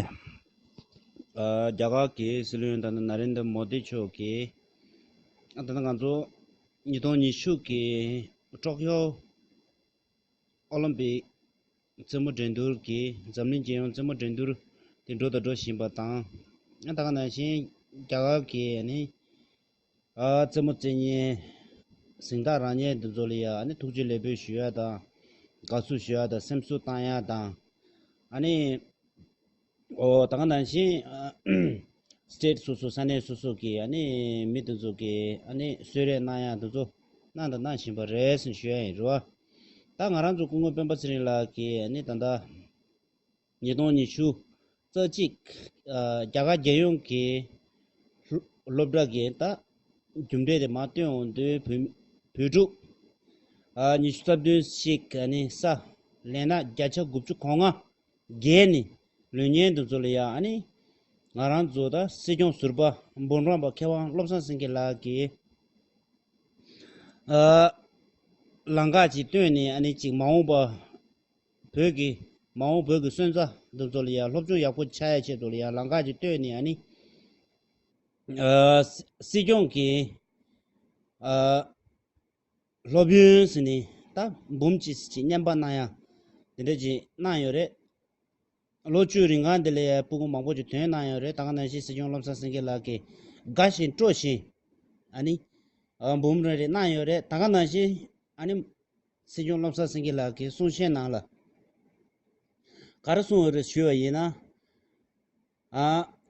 རྒྱ་གར་གྱི་སྲིད་བློན་ད་ནི་ན་རེན་དར་མོ་དེ་མཆོག་གིས་ད་ལྟ་ང་ཚོ་ཉིས་སྟོང་ཉི་ཤུ་གི་ཏོག་ཀྱོ་ཨོ་ལིམ་པིག་རྩེད་མོ་འགྲན་སྡུར་གྱི་འཛམ་གླིང་རྒྱལ་ཡོངས་རྩེད་མོ་འགྲན་སྡུར་དེ་འགྲོ་དང་འགྲོ་བཞིན་པ་དང་ད་ག་ནང་བཞིན་རྒྱ་གར་གྱི་རྩེད་མོ་རྩེད་ཉེན། གཟེངས་རྟགས་རང་ཉེན་འདི་ཚོ་ལ་ཡང་ཐུགས་རྗེ་ལེགས་འབུལ་ཞུ་ཡག་དང། དགའ་བསུ་ཞུ་ཡག་དང་སེམས་གསོ་བཏང་ཡག་དང། ད་ག་ནང་བཞིན State སོ་སོ་ས་གནས་སོ་སོ་གི་མི་དེ་ཚོ་གི་གསོལ་རས་གནང་ཡག་དེ་ཚོ་གནང་དང་གནང་བཞིན་པ་རེད་ཞུ་ཡག་ཡིན་རུང། ད་ང་རང་ཚོ་སྐུ་ངོ་སྤེན་པ་ཚེ་རིང་ལགས་ཀྱིས་ད་ལྟ། ཉིས་སྟོང་ཉི་ཤུ། རྩ་གཅིག། རྒྱ་གར་རྒྱལ་ཡོངས་ཀྱི་སློབ་གྲྭ་དགེ་རྟགས་རྒྱུ་འབྲས་དེ་མ་བཏོན་འོང་དུས་བོད་ཕྲུག་ཉི་ཤུ་རྩ་བདུན་ཞིག་ནི་ས་ལེ་ན་བརྒྱ་ཆ་དགུ་བཅུ་གོ་ལྔ་བརྒལ་ནས་ལུས་ཉེན་དུ་འཛུལ་ཡ་ནི་ང་རང་ཚོ་ད་སྲིད་སྐྱོང་ཟུར་པ་འབུམ་རམས་པ་མཁས་དབང་བློ་བཟང་སེང་གེ་ལགས་ཀྱིས་ལངས་ཀ་ཅིག་བཏོན་ནས་ཅིག་མ་འོངས་པ། བོད་ཀྱི། མ་འོངས་བོད་ཀྱི་སོན་རྩ། འདི་ཚོ་ལ་ཡང་སློབ་སྦྱོང་ཡག་པོ་བྱ་ཡ་ཆེད་དུ་ལ་ཡང་ལང་ཀ་ཅིག་བཏོད་ནས་ཡ་ནི། སྲིད་སྐྱོང་གིས། སློབ་ཡོན་ཟེར་ནས་ད་འབུམ་ཅིག་ཟེར་ཅིག་བསྙན་པ་གནང་ཡ། དེ་འདྲ་ཅིག་གནང་ཡོད་རེད། ལོ་བཅུའི་རིང་ཁང་འདི་ལ་ཡ་སྤུ་སྐུང་མང་པོ་ཅིག་དོན་གནང་ཡོད་རེད་ད་ག་ནང་བཞིན་སྲིད་སྐྱོང་བློ་བཟང་སེང་གེ་ལགས་ཀྱིས། དགའ་བཞིན་སྤྲོ་བཞིན། ཨ་ནི། འབུམ་རེ་རེ་གནང་ཡོད་རེད་ད་ག་ནང་བཞིན། ཨ་ནི། སྲིད་སྐྱོང་བློ་བཟང་སེང་གེ་ལགས་ཀྱིས་གསུང་བཤད་ནང་ལ། ག་རེ་གསུང་འོས་རེ་ཞུས་པ་ཡིན་ན།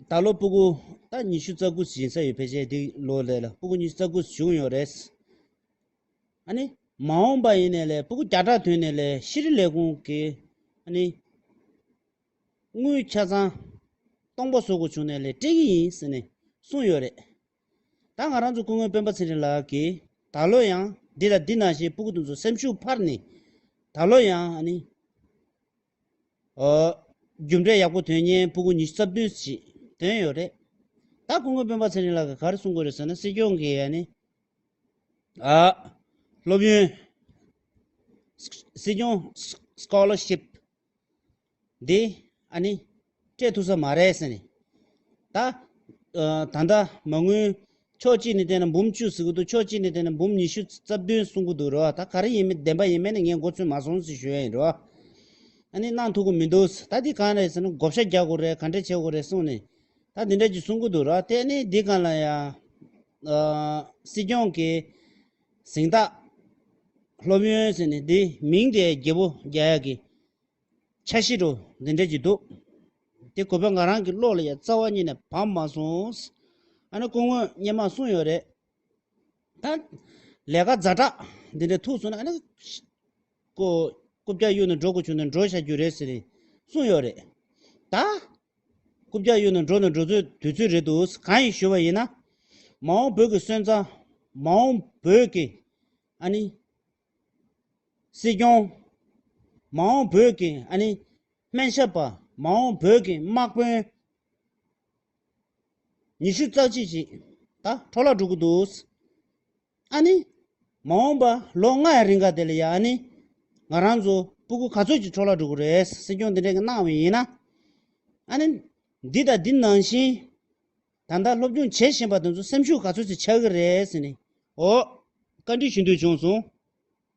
ད་ལོ་སྤུ་གུ་ད་ཉི་ཤུ་རྩ་དགུ་ཟིན་ས་ཡོད་ཕལ་ཆེར་འདི་ལོ་ལས་ལ་སྤུ་གུ་ཉི་ཤུ་རྩ་དགུ་བྱུང་ཡོད་རེད། ཨ་ནི་མ་འོངས་པ་ཡིན་ནས་ལས་སྤུ་གུ་བརྒྱ་ཕྲག་ཐོན་ནས་ལས་ཤི་རི་ལས་ཁུང་གི་ཨ་ནི་དངུལ་ཆ་ཚང་སྟོང་པ་བཟོ་དགོས་བྱུང་ནས་ལས་སྤྲད་ཀྱི་ཡིན་ཟེར་ནས་གསུང་ཡོད་རེད། ད་ང་རང་ཚོ་སྐུ་ངོའི་སྤེན་པ་ཚེ་རིང་ལགས་ཀྱིས་ད་ལོ་ཡང་འདི་དང་འདི་གནང་ཞེས་སྤུ་གུ་དང་ཚོ་སེམས་ཤུགས་འཕར་ནས། ད་ལོ་ཡང། རྒྱུ་འབྲས་ཡག་པོ་དོན་གཉེར་སྤུ་གུ་ཉི་ཤུ་རྩ་བདུན་ཞིག་འདོན་ཡོད་རེད། ད་སྐུ་ངོའི་སྤེན་པ་ཚེ་རིང་ལགས་ཀྱིས་ག་རེ་གསུང་དགོས་རེད་ཟེར་ན་སྲིད་སྐྱོང་གིས། སློབ་ཡོན། Scholarship། འདི་ཨ་ནི། སྤྲད་ཐུབ་ས་མ་རེད་ཟེར་ནས། ད། ད་ལྟ། མ་དངུལ། ཕྱོགས་གཅིག་ནས་བལྟས་ན་འབུམ་བཅུ་ཟེར་གི་འདུག་ཕྱོགས་གཅིག་ནས་བལྟས་ན་འབུམ་ཉི་ཤུ་རྩ་བདུན་གསུང་གི་འདུག་རེད་བ་ད་ག་རེ་ཡིན་མིན་བདེན་པ་ཡིན་མིན་ནི་ངས་མགོ་ཚོས་མ་སོང་ཟིག་ཞུས་ཡ་ཡིན་རེད་བ། ཨ་ནི་གནང་ཐུབ་གི་མི་འདུག་ཟེར་ད་འདི་གང་རེད་ཟེར་ན་བགོ་བཤའ་རྒྱག་དགོས་རེད་ག་འདྲས་བྱེད་དགོས་རེད་གསུང་ནས། ད་འདི་འདྲ་གྱི་གསུང་གི་འདུག་རེད་བ་དེ་ནི་འདི་ག་ལ་ཡང། སྲིད་སྐྱོང་གིས། གཟེངས་རྟགས། སློབ་ཡོན་ཟེར་ནས་འདི་མིང་དེ་རྒྱལ་པོ་རྒྱ་ཡག་གི་ཆ་གཞི་རུ་འདི་འདྲ་གྱི་འདུག་དེ་གོ་བས་ང་རང་གི་བློ་ལ་ཡང་རྩ་བ་ཉིད་ནས་བབས་མ་སོང། ཨ་ནི་སྐུ་དངོས་བརྙན་མ་གསུངས་ཡོད་རེད་ད། ལས་ཀ་རྫ་དྲག་འདི་འདྲ་ཐུག་སོང་ན་ཨ་ནི། སྐུ། སྐུ་བརྒྱ་གཡུ་ནི་འགྲོ་དགུ་ཆུ་ནི་འགྲོ་བྱ་རྒྱུ་རེད་ཟེར། གསུངས་ཡོད་རེད་ད། སྐུ་བརྒྱ་གཡུ་ནི་འགྲོ་ནི་འགྲོ་ཚོད་དུས་ཚོད་རེད་འདུག་གང་ཡིན་ཞུས་པ་ཡིན་ན། མ་འོངས་བོད་ཀྱི་སོན་རྩ། མ་འོངས་བོད་ཀྱི། ཨ་ནི། སྲིད་སྐྱོང། མ་འོངས་བོད་ཀྱི་ཨ་ནི། སྨན་ཞབས་པ། མ་འོངས་བོད་ཀྱི་དམག་དཔོན། ཉི་ཤུ་རྩ་གཅིག་ཅིག། ད་འཕྲོ་བརླག་འགྲོ་གི་འདུག། ཨ་ནི། མ་འོངས་པ་ལོ་ལྔ་ཡི་རིང་ག་དེ་ལ་ཡ་ཨ་ནི། ང་རང་ཚོ་སྤུ་གུ་ག་ཚོད་ཀྱི་འཕྲོ་བརླག་འགྲོ་གི་རེད་སྲིད་སྐྱོང་འདི་འདྲ་གི་གནང་བའི་ཡིན་ན། ཨ་ནི། འདི་དང་འདི་ནང་བཞིན། ད་ལྟ་སློབ་སྦྱོང་བྱེད་བཞིན་པ་དེ་ཚོ་སེམས་ཤུགས་ག་ཚོད་ཅིག་ཆག་གི་རེད་ཟེར་ནས་འོ། བཀའ་འདྲི་ཞུ་འདོད་བྱུང་སོང།